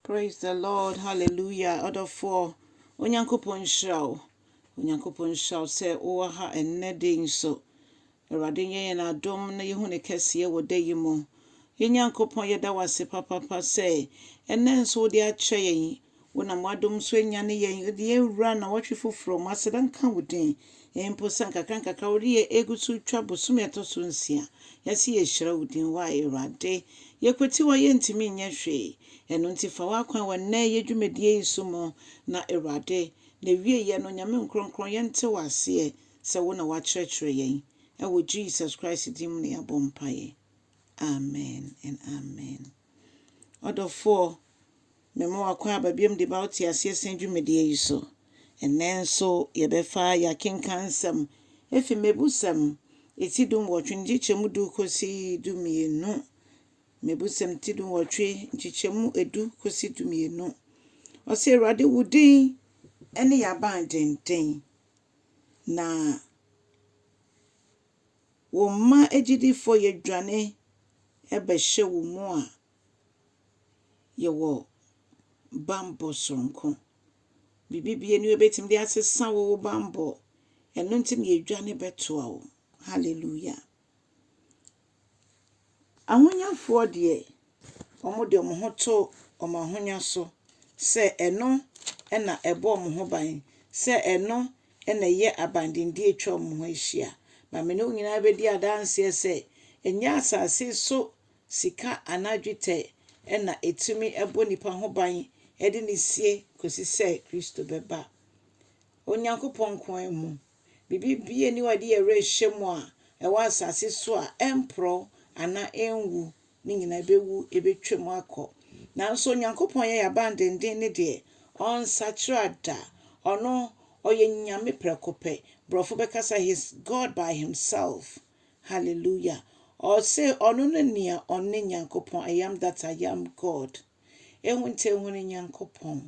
Praise the Lord hallelujah ɔdɔfoɔ Onyankopɔn nhyira wo Onyankopɔn nhyira wo sɛ wowɔ ha ɛnnɛ da yi nso Awurade nyɛ yɛn adom na yɛhu ne kɛseɛ wɔ da yi mu Yɛn Nyankopɔn yɛda wo ase papapa sɛ ɛnnɛ nso wode akyɛ yɛn Wonam w'adom so anyane yɛn wode yɛn awura nnawɔtwe foforɔ mu Aseda nka wo din mpo sɛ nkakrankakra wode yɛn ɛgu so retwa bosome a ɛtɔ so nsia Yɛse yɛhyira wo din wo a Awurade Yɛkwati wo a yɛntumi nyɛ hwee Ɛno nti fa w'akwan wɔ nnɛ yɛ dwumadie yi so mu na Awurade, n'awieɛ no Nyame nkrɔnkrɔn yɛ nte wo aseɛ sɛ wo na w'akyerɛkyerɛ yɛn. Ɛwɔ Jesus Christ din mu na yɛabɔ mpaeɛ. Amen and Amen. Ɔdɔfoɔ, me ma w'akwan aba biom de ba wo te aseɛ sɛn dwumadie yi so. Ɛnnɛ nso yɛbɛfa y'akenkan nsɛm ɛfiri Mmɛbusɛm ɛti du nwɔtwe nkyekyɛmu du kɔsi du mmienu Mmebusɛm ti dunwɔtwe, nkyekyɛmu edu kosi dumienu. Ɔse, Awurade, wo din ne yɛn abandenden, na wo mma agyidifoɔ yɛdwane bɛhyɛ wo mu a yɛwɔ bammɔ soronko. Biribi biara nni hɔ bɛtumi de asesa wo wo bammɔ, ɛno nti na yɛdwane bɛtoa wo. Hallelujah. Ahonyafoɔ deɛ, wɔde wɔn ho to wɔn ahonya so sɛ ɛno na ɛbɔ wɔn ho ban, sɛ ɛno na ɛyɛ abandenden a ɛtwa wɔn ho ahyia. Na me ne wo nyinaa bɛdi adanseɛ sɛ, ɛnyɛ asase so sika anaa dwetɛ na ɛtumi bɔ nipa ho ban de no sie kɔsi sɛ Kristo bɛba Onyankopɔn nko ara mu. Biribi biara nni hɔ a yɛde yɛn werɛ hyɛ mu a ɛwɔ asase so a ɛmporɔw anaa enwu. Ne nyinaa ebewu, ebetwam akɔ. Nanso Onyankopɔn yɛ yɛn abandennen ne deɛ, ɔnsakyera da. Ɔno, ɔyɛ Nyame prɛko pɛ. Borɔfo bɛkasa He's God by himself. Hallelujah! Ɔse ɔno ne nea ɔne Nyankopɔn, I am that I am, God. Ehun tse ehun Nyankopɔn,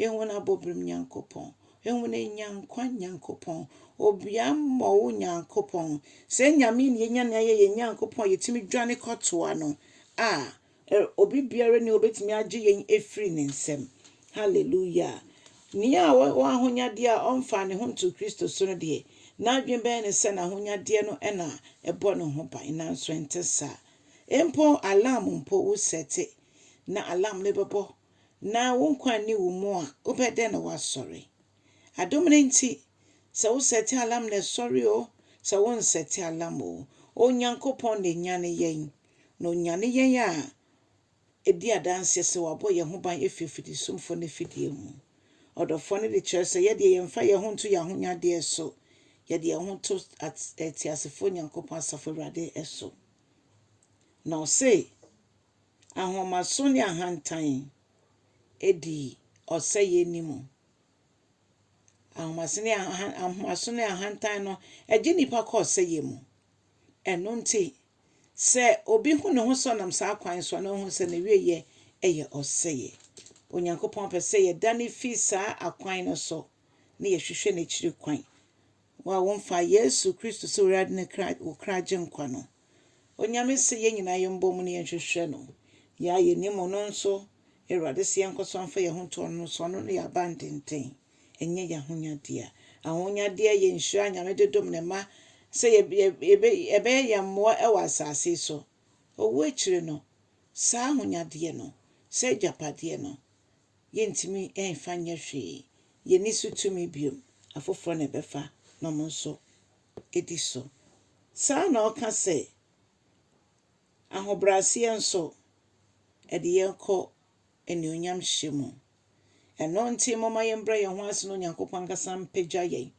ehun abɔbrim Nyankopɔn, ehun enyankwa Nyankopɔn, obiammɔwo Nyankopɔn. Sɛ Nyame na yenya na ɔyɛ yɛn Nyankopɔn a yetumi dwane kɔtoa no a, obi biara nni hɔ a obetumi agye yɛn afiri ne nsam. Hallelujah! Nea ɔwɔ ahonyadeɛ a ɔmfaa ne ho ntoo Kristo so no deɛ, n'adwene bɛyɛ no sɛ n'ahonyadeɛ no na ɛbɔ ne ho ban, nanso ɛnte saa. Mpo alarm mpo, wosɛte na alarm no bɛbɔ na wo nkwa nni wo mu a, wobɛyɛ dɛn na woasɔre? Adom no nti, sɛ wosɛte alarm na ɛsɔre oo, sɛ wonsɛte alarm oo, Onyankopɔn na ɛnyane yɛn. Na ɔnyane yɛn a, ɛdi adanseɛ sɛ wabɔ yɛn ho ban afiri afidisumfoɔ no afidie ho. Ɔdɔfoɔ no de kyerɛ sɛ yɛ deɛ yɛmfa yɛn ho nto yɛn ahonyadeɛ so, yɛde yɛn ho to Teasefoɔ Nyankopɔn Asafo Awurade so. Na ɔse. ahomaso ne ahantan di ɔsɛeɛ anim. Ahomaso ne ahan ahomaso ne ahantan no gye nnipa kɔ ɔsɛeɛ mu. Ɛno nti, sɛ obi hu ne ho sɛ ɔnam saa kwan so a, na ɔhu sɛ ne wieɛ yɛ ɔsɛeɛ. Onyankopɔn pɛ sɛ yɛdane fi saa akwan no so na yɛhwehwɛ n'akyiri kwan. Wo a womfa Yesu Kristo sɛ Awurade ne kra wo kra gyenkwa no, Onyame se yɛn nyinaa yɛmbɔ mu na yɛnhwehwɛ no. Yɛ a yɛnnim Ɔno nso, Awurade se yɛnkɔ so mfa yɛn ho nto Ɔno no so. Ɔno ne yɛn abandenten, ɛnyɛ yɛn ahonyadeɛ. Ahonyadeɛ yɛ nhyira a Nyame de dom Ne mma sɛ ɛbɛyɛ yɛn mmoa wɔ asaase yi so. Owuo akyire no, saa ahonyadeɛ no, saa agyapadeɛ no, yɛntumi mfa nyɛ hwee. Yɛnni so tumi bio. Afoforɔ na ɛbɛfa na wɔn nso di so. Saa ara na ɔka sɛ, Ahobrɛaseɛ nso, ɛde yɛn kɔ animuonyamhyɛ mu. Ɛno nti, momma yɛmbrɛ yɛn ho ase na Onyankopɔn ankasa mpagya yɛn.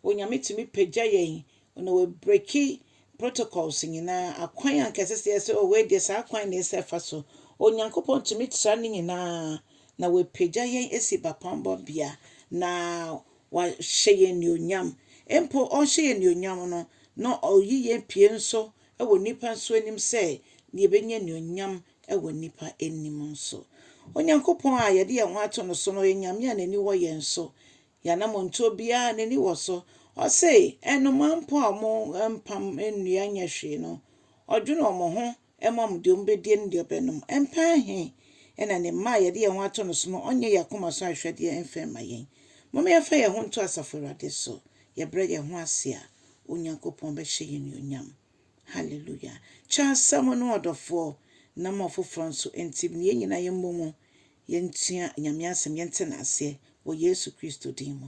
Onyame tumi pagya yɛn na wabreki protocols nyinaa, akwan anka ɛsɛ sɛ yɛsɛ wɔ wei deɛ saa kwan na ɛsɛ fa so. Onyankopɔn tumi tra ne nyinaa na wapagya yɛn asi bapɔnbɔbea na Wahyɛ yɛn anuonyam. Mpo ɔrehyɛ yɛn anuonyam no, na ɔreyi yɛn pue nso wɔ nnipa nso anim sɛ yɛbɛnya anuonyam wɔ nnipa anim nso. Onyankopɔn a yɛde yɛn ho ato no so no yɛ Nyame a n'ani wɔ yɛn so. Yɛn anammɔntuo biara, n'ani wɔ so. Ɔse nnomaa mpo a wɔmpam nnua nyɛ hwee no, ɔdwene wɔn ho Ɛma wɔn deɛ wɔbɛdie ne deɛ wɔbɛnom. Mpɛn he na ne mma a yɛde yɛn ho ato no so no ɔnyɛ yɛn akoma so ahwehwɛdeɛ mfa mma yɛn. Momma yɛmfa yɛn ho nto Asafo Awurade so. Yɛbrɛ yɛn ho ase a, Onyankopɔn bɛhyɛ yɛn anuonyam. Hallelujah! Kyɛ asɛm no, ɔdɔfoɔ, na ma ɔfoforɔ nso nte mu. Yɛn nyinaa yɛmmɔ mu, yɛntua Nyame asɛm, yɛnte no aseɛ wɔ Yesu Kristo din mu.